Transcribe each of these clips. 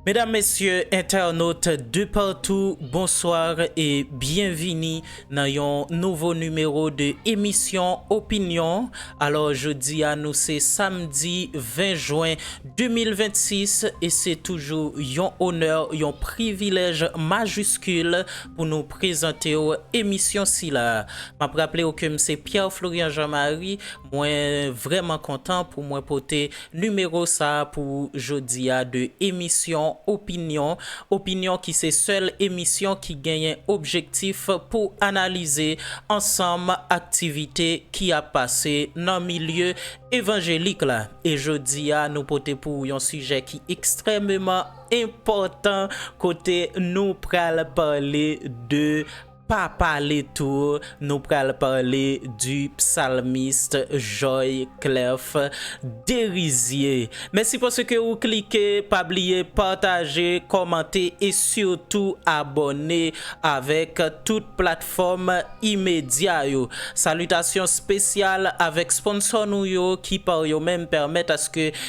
Medam mesye entènot de partou bonsoir e byen vini nan yon nouvo nimewo de emisyon opinyon alò jodi a nou se samdi 20 jwen 2026 e se toujou yon onè yon privilèj majiskil pou nou prezante w emisyon sila m ap raple w ke m se Pierre Florian Jean Marie mwen vrèman kontan pou mwen pote Nimewo sa pou jodi a de emisyon Opinyon, Opinyon ki se sèl emisyon ki genyen objektif pou analize ansanm aktivite ki ap pase nan milye evanjelik la. E jodi a nou pote pou ou yon sijè ki ekstrèmeman enpòtan kote nou pral pale de Pa pale tou, nou pral pale du psalmiste Joy Clerf Derizier. Mèsi paske ou klike, pa bliye pataje, kòmante e sitou abòne avèk tout platfòm imedya yo. Salitasyon spesyal avèk sponsò nou yo ki par yo menm pèmèt aske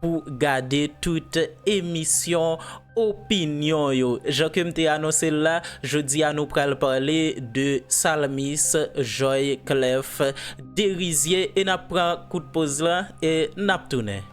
pou gade tout emisyon opinyon yo. Jan ke m te anonse l la, jodi a nou pral pale de Salmis Joy Clef Derizier e n ap pran kout poz la e n ap tounen.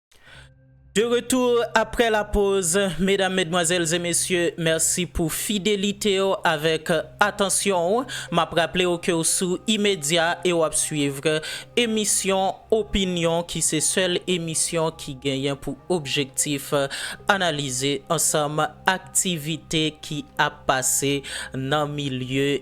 De retour après la pause Medam, medmwazèl e mesye mèsi pou fidelite w avèk atansyon w Map raple w ke w sou Imedya e w ap suivre emisyon Opinyon ki se sèl emisyon ki genyen pou objektif analize ansanm aktivite ki ap pase nan milye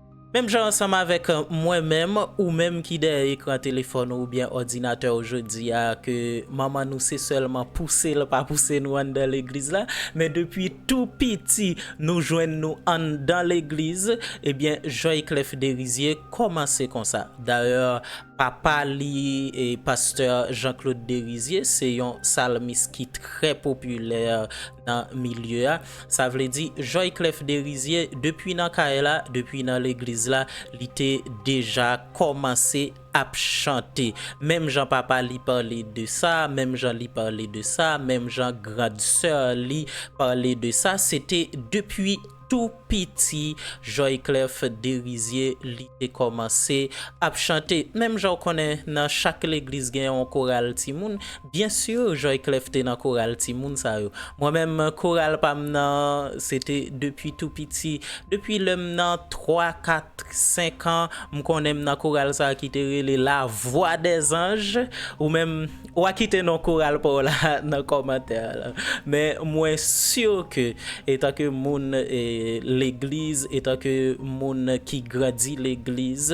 Menm jan ansanm avèk mwen menm, ou menm ki dèyè ekran telefòn ou oubyen òdinatè ou jodi a ke manman nou se sèlman pouse l pa pouse nou anndan legliz la, men depi tou piti nou jwenn nou anndan legliz, ebyen Joyclef Derizier kòmanse konsa. Dayè papa li pastè Jean Claude Derizier se yon salmis ki trè popilè nan milye a. Sa vle di Joyclef Derizier depi nan kay la, depi nan legliz la li te deja kòmanse ap chante. Menm jan papa li pale de sa, menm jan li pale de sa, menm jan grand soeur li pale de sa, se te depi tou piti Joyclef Derizier li te kòmanse ap chante. Menm jan ou konnen nan chak legliz gen yon koral timoun, Bien sûr Joyclef te nan koral timoun sa yo. Mwen menm koral pa m nan se te depi tou piti. Depi lè m nan 3, 4, 5 an m konnen m nan koral sa ki te rele La Voix des Anges. Ou menm ou a kite non koral pa w la nan kòmantè a la. Men mwen sûr ke etan ke moun legliz, etan ke moun ki grandi legliz,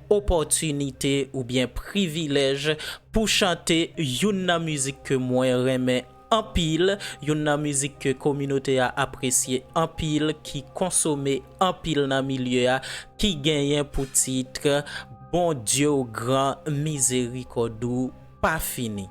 opòtinite oubyen privilèj pou chante youn nan mizik ke mwen renmen anpil, youn nan mizik ke kominote a apresye anpil, ki konsome anpil nan milye a, ki genyen pou tit, Bondye w gran, mizerikòd ou pa fini.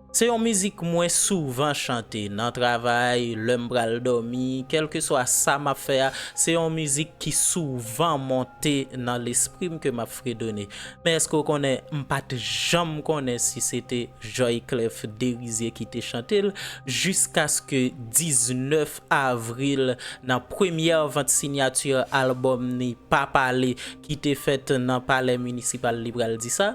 Se yon mizik mwen souvan chante nan travay, lè m pral dòmi, kèlkeswa sa m ap fè a, se yon mizik ki souvan monte nan lespri m ke m ap fredone. Men èske w konnen m pa t janm konnen si se te Joyclef Derizier ki te chante l jiskaske 19 avril nan premyè vant sinyati albòm ni Pa Pale ki te fèt nan palè minisipal li pral di sa.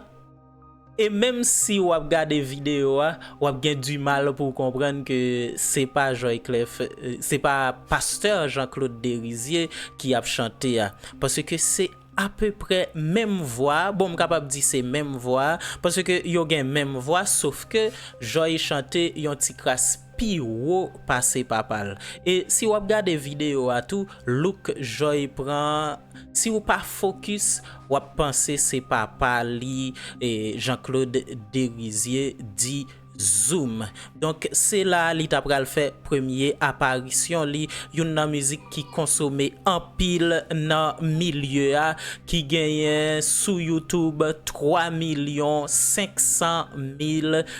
E menm si wap gade video a wap gen du mal pou w konprann ke se pa Joyclef, se pa Pasteur Jean Claude Derizier ki ap chante a. Paske se apeprè menm vwa, bon m kapab di se menm vwa, paske yo gen menm vwa sof ke Joy chante yon ti kras pi wo pase papal e si wap gade video a tou look joy pran an si ou pa focus wap panse se papa li jean claude derizier di zoom donk se la li ta pral fè premye aparisyon li youn nan mizik ki konsome anpil nan milye a ki genyen sou youtube 3 milyon 500 mil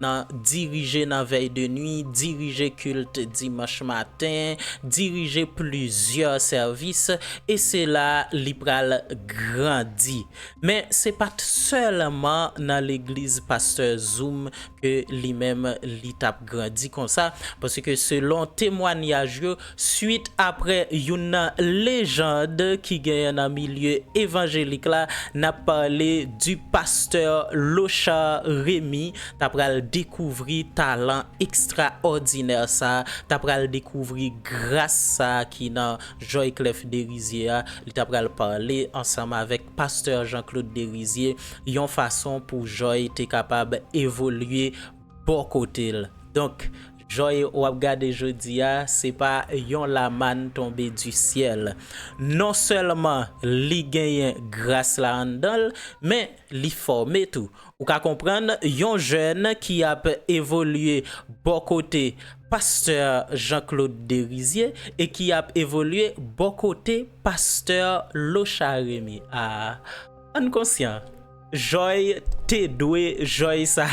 nan dirije nan vèy de nwi, dirije kilt dimanch maten, dirije plizyè sèvis, e se la li pral grandi. Men se pa t sèlman nan legliz pastè Zoom ke li menm li t ap grandi konsa, paske selon temwanyaj yo, Swit apre youn nan lejand ki genyen nan milye evanjelik la nap pale di pastè Lochard Remy ta pral dekouvri talan ekstraòdinè sa, ta pral dekouvri gras sa ki nan Joyclef Derizier a, li ta pral pale ansanm avèk pastè Jean Claude Derizier yon fason pou Joy te kapab evolye bò kote l. Donk Joy ou ap gade jodi a, se pa yon lamann tonbe di syèl. Non sèlman li genyen gras la anndan l, men li fòme tou. Ou ka konprann yon jèn ki ap evolye bò kote pastè Jean Claude Derizier e ki ap evolye bò kote pastè Locha Remy. A, an n konsyan! Joy t dwe joy sa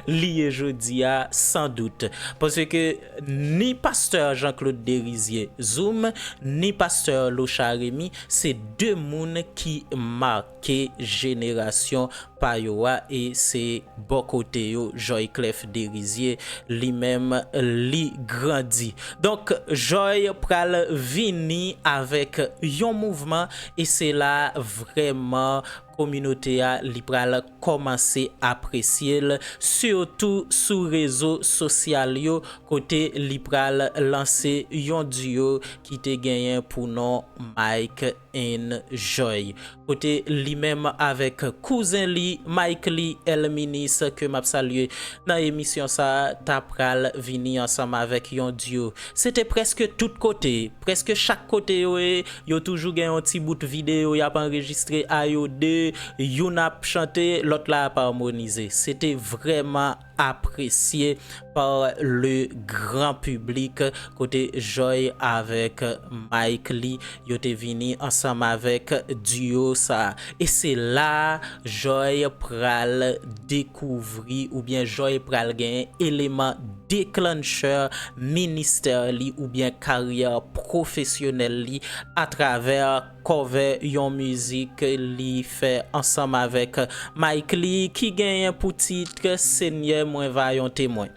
li ye jodia san dout paske ni pasteur Jean Claude Derizier zoom ni pasteur Locha Remy se 2 moun ki marke jenerasyon pa yo a e se bò kote yo Joy Clef Derizier li menm li grandi donk Joy pral vini avèk yon mouvman e se la vrèman kominote a li pral kòmanse apresye l sitou sou rezo sosyal yo kote li pral lanse yon duo ki te genyen pou non Mike and Joy kote li menm avèk kouzen li Mickley Elminis ke m ap salye nan emisyon sa ta pral vini ansanm avèk yon duo Se te prèske tout kote, prèske chak kote yo ye, yo toujou gen yon ti bout videyo y ap anrejistre a yo de, youn ap chante, lòt la ap armonize. Se te vrèman apresye par le gran piblik kote Joy avèk Mike li yo te vini ansanm avèk duo sa a. E se la a Joy pral dekouvri oubyen Joy pral gen eleman. declencher ministè li oubyen karyè pwofesyonèl li atravè cover yon mizik li fè ansanm avèk Mickley ki genyen pou tit Senyè mwen va yon temwen.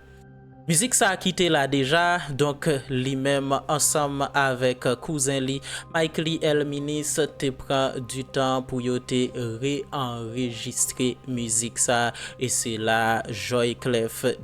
Mizik sa ki te la deja, donk li menm ansanm avèk kouzen li Mickley El Minis te pran di tan pou yo te re-anrejistre mizik sa e se la Joyclef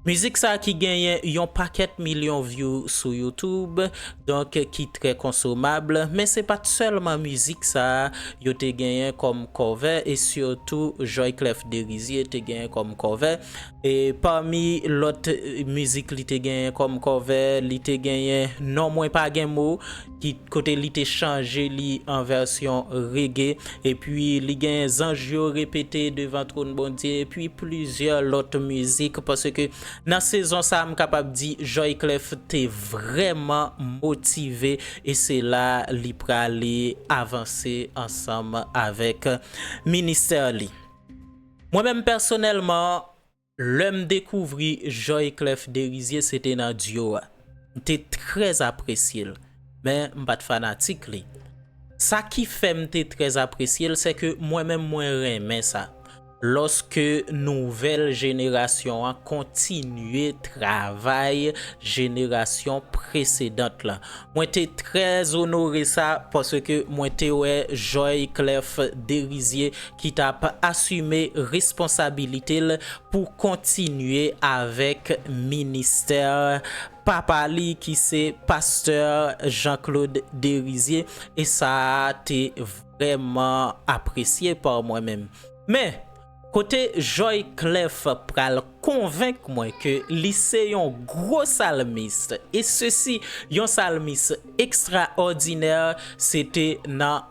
Mizik sa ki genyen yon pakèt milyon vyou sou youtube, donk ki trè konsomab, men se pat sèlman mizik sa yo te genyen kòm kòve e sitou Joyclef Derizier te genyen kòm kòve e pami lòt mizik li te genyen kòm kòve li te genyen non mwen pa gen mo, ki kote li te chanje li an vèsyon rege, epi li gen zanj yo repete devan twòn Bondye, epi plizyè lòt mizik, paske nan sezon sa m kapab di Joy Clef te vrèman motive e se la li prale avanse ansanm avèk ministè li. Mwen menm pèsonèlman, Lèm dekouvri Joy Clef Derizier se te nan Duo a. M te trè apresye l, men m pat fanatik li. Sa ki fè m te trè apresye l sèke mwen menm mwen renmen sa, lòske nouvèl jenerasyon an kontinye travay jenerasyon presedant lan. Mwen te trè onore sa paske mwen te wè Joy Clef Derizier ki t ap asime responsabilite l pou kontinye avèk ministè papa li ki se pastè Jean Claude Derizier e sa a te vrèman apresye pa mwen menm. Men, kote Joy Clef pral konvenk mwen ke li se yon gwo salmis e sesi yon salmis ekstraòdinè se te nan.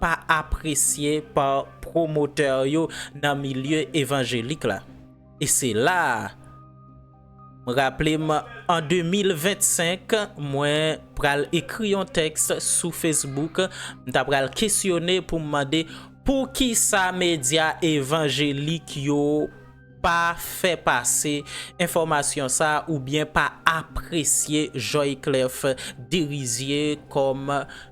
pa apresye pa pwomotè yo nan milye evanjelik la. E se la a, m raple m an 2025 mwen pral ekri yon tèks sou Facebook, m ta pral kesyone pou m mande poukisa medya evanjelik yo pa fè pase enfòmasyon sa a oubyen pa apresye Joyclef Derizier kòm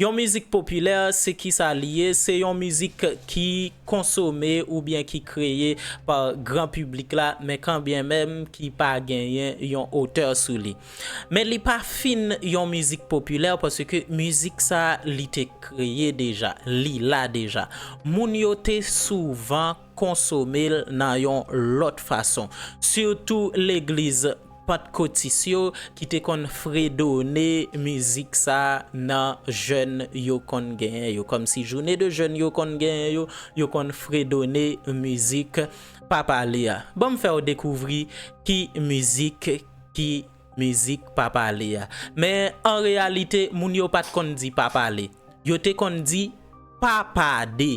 Yon mizik popilè se ki sa li ye? Se yon mizik ki konsome oubyen ki kreye pa gran piblik la men kan byen menm ki pa genyen yon otè sou li. Men li pa fin yon mizik popilè paske mizik sa li te kreye deja, li la deja. Moun yo te souvan. konsome l nan yon lòt fason. Sitou legliz pantkotis yo ki te konn fredone mizik sa nan jèn yo konn genyen yo. Kòmsi joune de jèn yo konn genyen yo, yo konn fredone mizik Papa le a. Ban m fè w dekouvri ki mizik ki mizik Papa le a. Men an reyalite moun yo pa t konn di Papa le. Yo te konn di Papa de.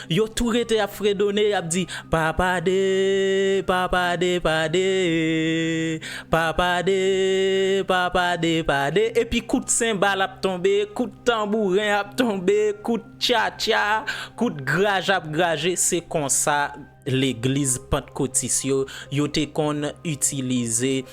Yo tou rete ap fredone, y ap di, Pa pade, pa pade, pade, Pa pade, pa pade, pade. Epi kout senbal ap tonbe, kout tanbouren ap tonbe, kout tchatcha, kout graj ap graje. Se konsa legliz Pantkotis yo, yo te konn itilize.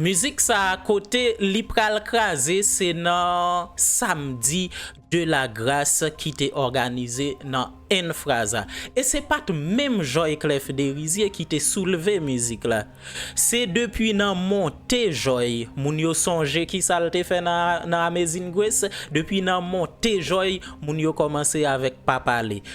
Mizik sa kote li pral kraze se nan samdi de la gras ki te òganize nan Enfraza. E se pat menm Joy Clef Derizier ki te soulve mizik la. Se depi nan monte Joy, moun yo sonje kisa l te fè nan Amazing Grace, depi nan monte Joy moun yo kòmanse avèk pa pale.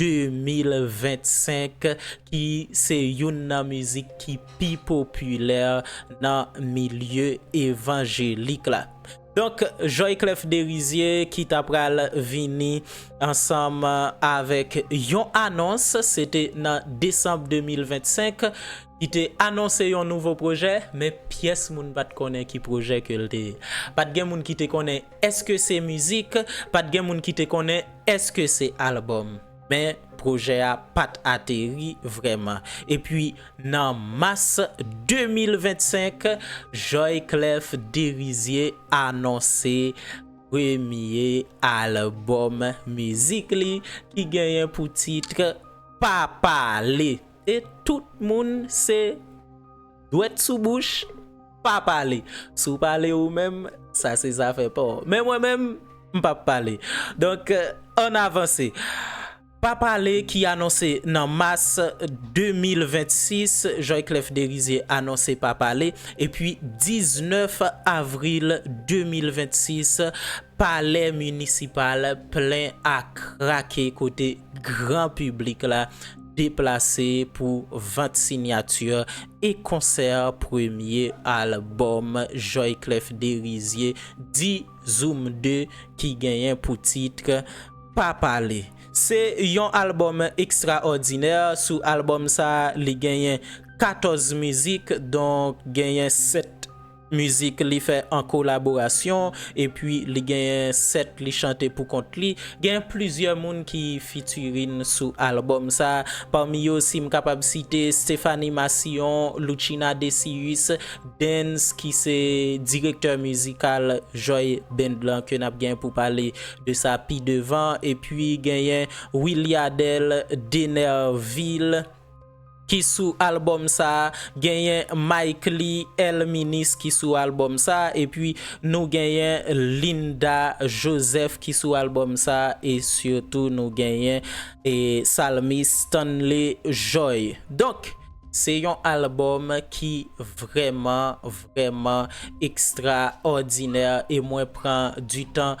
2025 ki se youn nan mizik ki pi popilè nan milye evanjelik la. Donk Joy Clef Derizier ki ta pral vini ansanm avèk yon anons, se te nan desanm 2025, ki te anonse yon nouvo pwojè, men pyès moun pa t konnen ki pwojè ke l te ye. Pa t gen moun ki te konnen Eske se mizik? Pat gen moun ki te konnen eske se album. Men pwojè a pat ateri vrèman. Epi nan mas 2025, Joy Clef Derizier anonse premye album mizik li ki genyen pou titre Pa pale. E tout moun se. Dwèt sou bouch, pa pale. Si w pale ou menm, sa se zafè pa w. Men mwen menm, m p ap pale. Donk, ann avanse. Pa pale ki anonse nan mas 2026, Joyclef Derizier anonse pa pale. Epi 19 avril 2026, palè minisipal plen a krake kote gran piblik la. deplase pou vant sinyati e konsè premye albòm Joyclef Derizier di Zoom 2 ki genyen pou tit Pa pale. Se yon albòm ekstraòdinè, sou albòm sa li genyen 14 mizik donk genyen 7. Mizik li fè an kolaborasyon epi li genyen 7 li chante pou kont li. Gen plizyè moun ki featuring sou album sa, pami yo si m kapab site Stephanie Massillon, Loutchina Decius, Dens ki se direktè mizikal Joy Band lan ke n ap gen pou pale de sa pi devan epi genyen Williadel, Denervil. ki sou album sa genyen Mickley El Minis ki sou album sa epi nou genyen Linda Joseph ki sou album sa e sitou nou genyen Psalmiste Stanley Joy donk se yon album ki vrèman vrèman extraordinaire e mwen pran du tan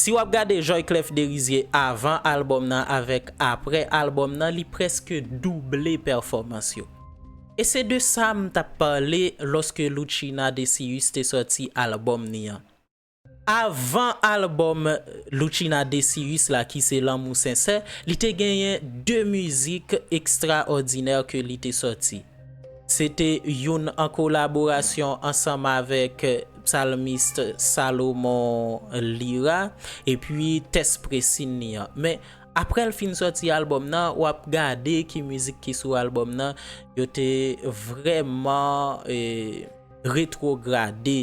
Si wap gade Joyclef Derizier avan album nan avèk aprè album nan li prèske double pèfòmans yo. E se de sa m tap pale lòske Loutchina Decius te sòti album ni an. Avan album Loutchina Decius la ki se Lanmou Sensè, li te genyen 2 mizik ekstraòdinè ke li te sòti. Se te youn an kolaborasyon ansanm avèk psalmist Salomon Lira epi tès Presin li an. Men, aprè l fin sòti albòm nan, w ap gade ki mizik ki sou albòm nan, yo te vrèman retwograde.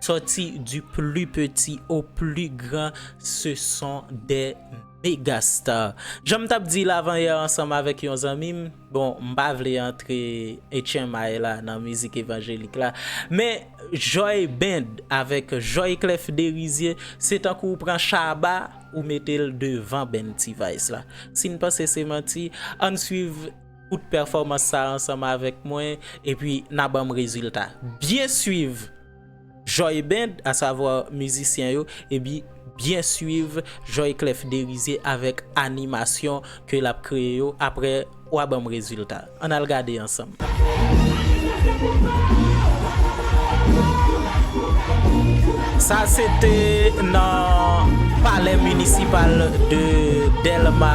Sòti du plus petit au plus grand ce sont des megastars. Jan m t ap di l avanyè ansanm avèk yon zanmi m, bon m pa vle antre etchenmay la nan mizik evanjelik la, men Joy Band avèk Joy Clef Derizier se tankou w pran Shabba ou mete l devan Band T-Vice la. Si n panse se manti, ann swiv. Koute pèfòmans sa ansanm avèk mwen epi n a ban m rezilta. Byen suiv Joy Band, asavwa mizisyen yo, epi byen suiv Joy Clef Derizier avèk animasyon ke l ap kreye yo, aprè w a ban m rezilta. An n al gade ansanm. Sa se te nan palè minisipal de Dèlma.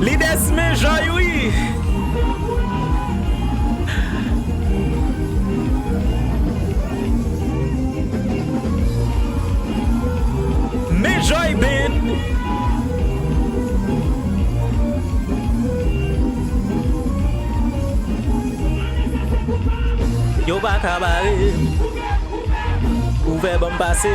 Li des men joy wi. Men joy band. Yo pa ka barem. Ouvè banm pase.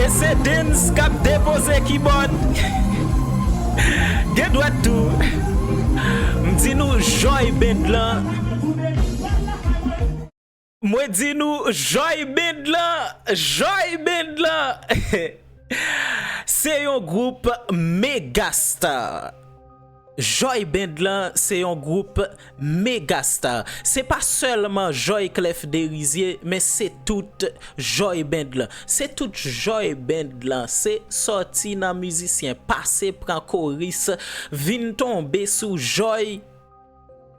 E se Dens kap depoze kibòd Gen dwèt tou M di nou Joy Band lan Mwen di nou Joy Band lan Joy Band lan Se yon gwoup mega star. Joy Band lan se yon gwoup mega star. Se pa sèlman Joy Clef Derizier men se tout Joy Band lan. Se tout Joy Band lan. Se sòti nan mizisyen, pase pran koris, vin tonbe sou Joy.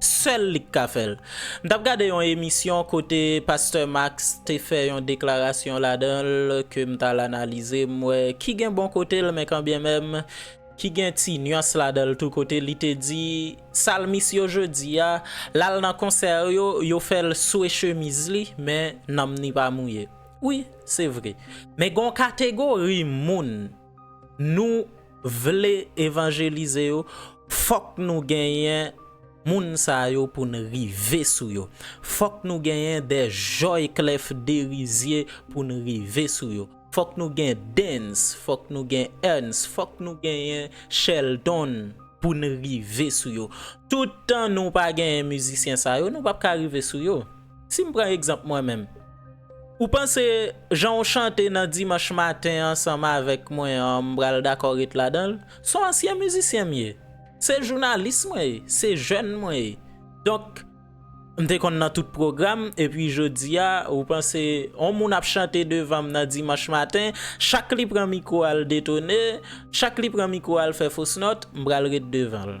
Sèl li k ka fè l. M t ap gade yon emisyon kote pastè Max te fè yon deklarasyon ladan l ke m t al analize, m wè ki gen bon kote l men kanbyen menm ki gen ti nuans ladan l tou kote li te di salmis yo jodi a l al nan konsè yo, yo fè l swe chemiz li men nanm ni pa mouye. Wi, se vre. Men gen yon kategori moun. nou vle evanjelize yo fòk nou genyen moun sa yo pou n rive sou yo fòk nou genyen dè jòy klèf de rizye pou n rive sou yo fòk nou gen dens fòk nou gen èns fòk nou genyen chèldon pou n rive sou yo tout tan nou pa genyen mizisyen sa yo nou p ap ka rive sou yo. Si m pran egzanp mwen menm, ou panse jan ou chante nan Dimanch maten ansanm avèk mwen an m pral dakò ret ladan l? S on ansyen mizisyen m ye, se jounalis mwen ye, se jèn mwen ye. Donk, m te konn nan tout pwogram epi jodi a ou panse on moun ap chante devan m nan Dimanch maten, chak li pran mikwo al detone, chak li pran mikwo al fè fosnòt, m pral ret devan l?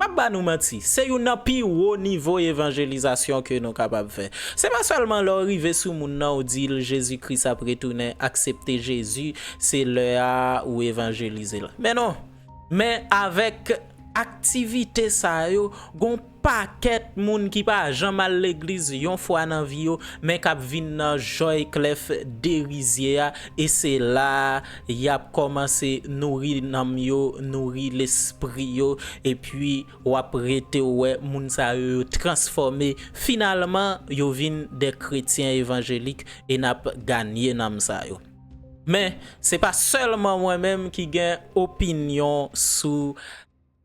Pap ba nou manti, se youn nan pi wo nivo evanjelizasyon ke nou kapab fè. Se pa sèlman lè w rive sou moun nan ou di l Jezi Kris ap retounen, aksepte Jezi, se lè a ou evanjelize l. Men non! Men avèk aktivite sa yo, gon pakèt moun ki pa janm al legliz yon fwa nan vi yo, men kap vin nan jòy klèf derizye a e se la a Y ap kòmanse nouri nanm yo, nouri lespri yo, epi w ap rete w wè moun sa yo yo transfòme, finalman yo vin de kretyen evanjelik e n ap ganye nanm sa yo. Men, se pa sèlman mwen menm ki gen opinyon sou.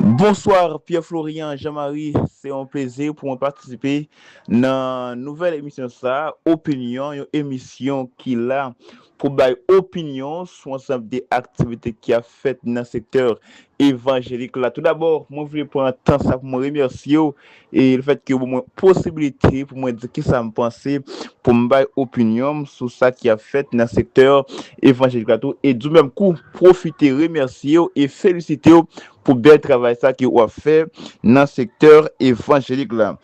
Bonsoir Pierre Florian Jean Marie se yon plezi pou mwen patisipe nan nouvèl emisyon sa Opinyon yon emisyon ki la pou bay opinyon sou ansanm de aktivite ki ap fèt nan sektè evanjelik la toudabò mwen vle pran tan sa pou mwen remèsye w e le fèt ke mwen posibilite pou mwen di kisa m panse, pou m bay opinyon m sou sa ki ap fèt nan sektè evanjelik la tou, e di w menm kou pwofite remèsye w e felisite w pou bèl travay sa ke w ap fè nan sektè evanjelik la.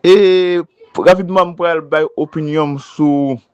E rapidman m pral bay opinyon m sou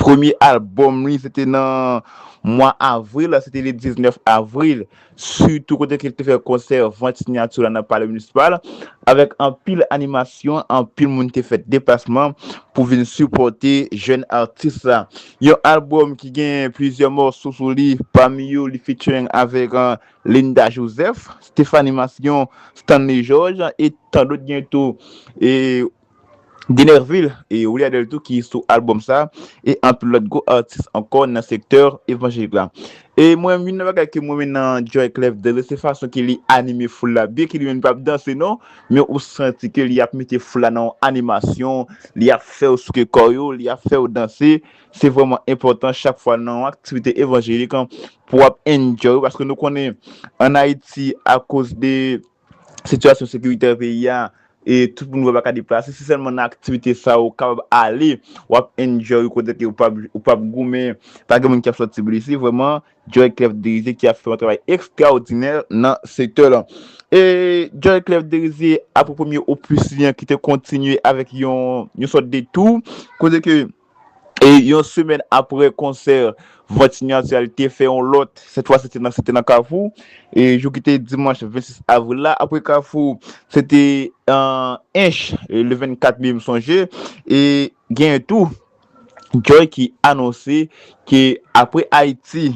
Premye albòm li se te nan mwa avril, se te le 19 avril, sitou kote ke li te fè konsè vant sinyati w la nan Palè Munisispal, avèk anpil animasyon, anpil moun te fè deplasman pou vin sipòte jèn atis la. Yon albòm ki gen plizyè mòso sou li, pami yo li featuring avèk Linda Joseph, Stéphanie Masson, Stanley Georges e tandòt gen tou. Denervil e Willy Adel tou ki sou album sa e anpil lòt gwo atis ankò nan sektè evanjelik la. E mwen menm youn nan bagay ke m renmen nan Joy Clef Dele se fason ke li anime foul la byen ke li menm li pap danse non men ou santi ke li ap mete foul la nan yon animasyon li ap fèw souke kò yo li ap fèw danse se vrèman enpòtan chak fwa nan yon aktivite evanjelik pou ap enjoy paske nou konnen an Ayiti akoz de sitiyasyon sekiritè peyi a e tout moun wè pa ka deplase se sèlman nan aktivite sa ou kapab ale wap enjoy kote ke ou pap goumen pa gen moun ki ap sòti blese vrèman Joy Clef Derizier ki ap fè yon travay ekstraòdinè nan sektè lan e Joy Clef Derizier apre premye opus li an ki te kontinye avèk yon sòt de tour kote ke. Yon semèn aprè konsè vant sinyati a li te fè yon lòt, sèt fwa se te nan se te nan Kafou, jou ki te dimanch 26 avril la, aprè Kafou se te Ench le 24 me m sonje e genyen tou Joy ki anonse ke aprè Ayiti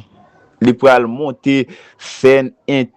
li pral monte sèn ent.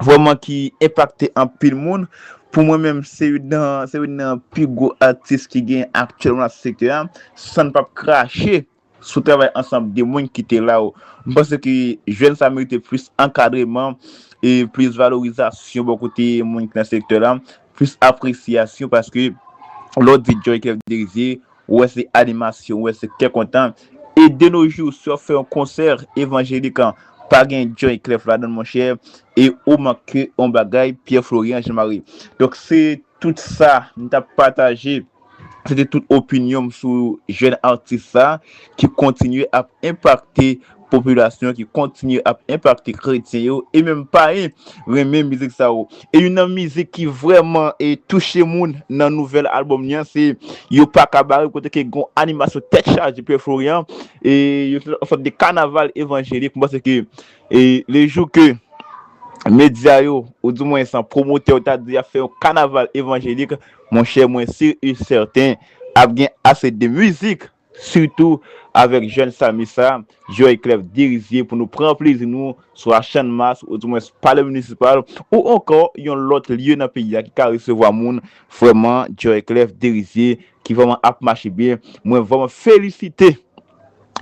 vrèman ki enpakte anpil moun, pou mwen menm se youn nan se youn nan pi gwo atis ki gen aktyèlman nan sektè a, san n pap krache sou travay ansanm de moun ki te la yo. M panse ke jèn sa merite plis ankadreman e plis valorizasyon bò kote moun ki nan sektè la, Plis apresyasyon paske lè w di Joy Clef Derizier, ou wè se animasyon, ou wè se kè kontan. E de no jou, si w ap fè yon konsè evanjelik an, pa gen Joy Clef ladan l monchè, e ou manke yon bagay Pierre Florian Jean Marie. Donk se tout sa m t ap pataje. Se te tout opinyon m sou jèn atis sa ki kontinye ap enpakte popilasyon, ki kontinye ap enpakte kretyen yo e menm payen renmen mizik sa yo. E youn nan mizik ki vrèman touche moun nan nouvèl albòm li an se Yo pa ka bare kote ke gen yon animasyon tèt chaje Pè Florian e yo fè yon sòt de kanaval evanjelik. M panse ke le jou ke medya yo ou di mwens pwomotè yo ta di y ap fè yon kanaval evanjelik, Monchè mwen sur u certain ap gen ase de music surtou avek jeune Samy sa Joy Clef Derizier pou nou pran plezi nou swa Channmas ou di mwens Palè Municipal ou ankò yon lòt lye nan peyi a ki ka resevwa moun vrèman Joy Clef Derizier ki vrèman ap mache byen mwen vrèman felisite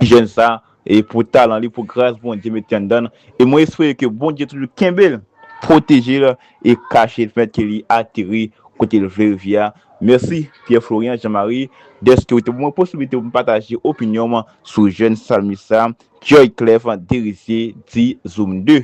jeune sa E pou talan li, pou gras Bondye mete anndan l, e mwen espere ke Bondye toujou kenbe l, pwoteje l e kache l pèmèt ke li ateri kote l vle rive a. Mèsi Pierre Florian Jean Marie dèske ou te ban mwen posiblite pou m pataje opinyon m sou jèn salmis sa, Joyclef Derizier di Zoom ii.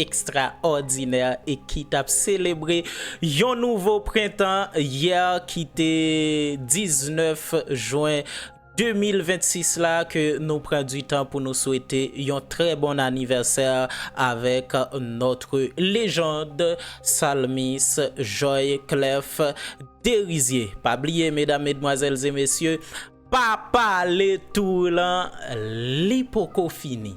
ekstraòdinè e ki t ap selebre yon nouvo prentan yè ki te 19 jwen 2026 la ke nou pran di tan pou nou swete yon trè bon anivèsè avèk notre légende salmis Joy Clef Derizier pa bliye medam medmwazèl e mesye pa pale tour lan li poko fini.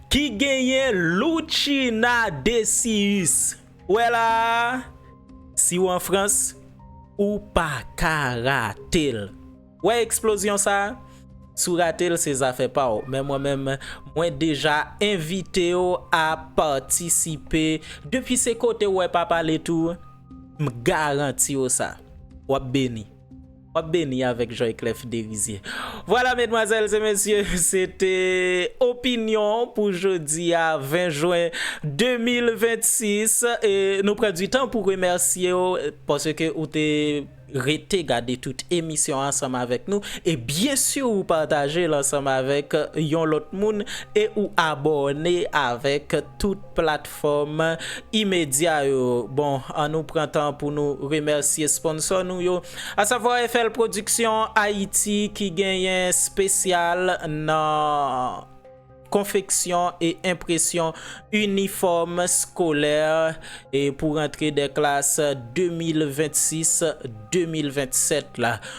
Ki genyen Loutchina Decius wè la a? Si w an Frans, ou pa ka rate l! Wè eksplozyon sa a? Si w rate l se zafè pa w, men mwen menm, mwen deja envite w a patisipe. Depi se kote w wè pa pale tou, m garanti w sa, w ap beni! Wap beni avèk Joyclef Derizier. Vwala medmwazèls e mesye se te opinyon pou jodi a 20 jwen 2026 e nou pran di tan pou remèsye w paske ou te rete gade tout emisyon ansanm avèk nou e byen si ou pataje l ansanm avèk yon lòt moun e ou abòne avèk tout platfòm imedya yo. Bon, an nou pran tan pou nou remèsye sponsò nou yo, asavwa FL Production Haïti ki genyen spesyal nan konfeksyon e enpresyon inifòm skolè pou rantre dè klas 2026, 2027 la.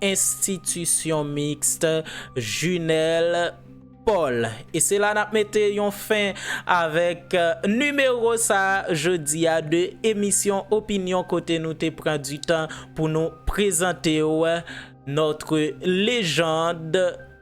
Institution Mixte Junel Paul. E se la nap mete yon fen avèk nimewo sa jodi a de emisyon opinyon kote nou te pran du tan pou nou prezante w notre légende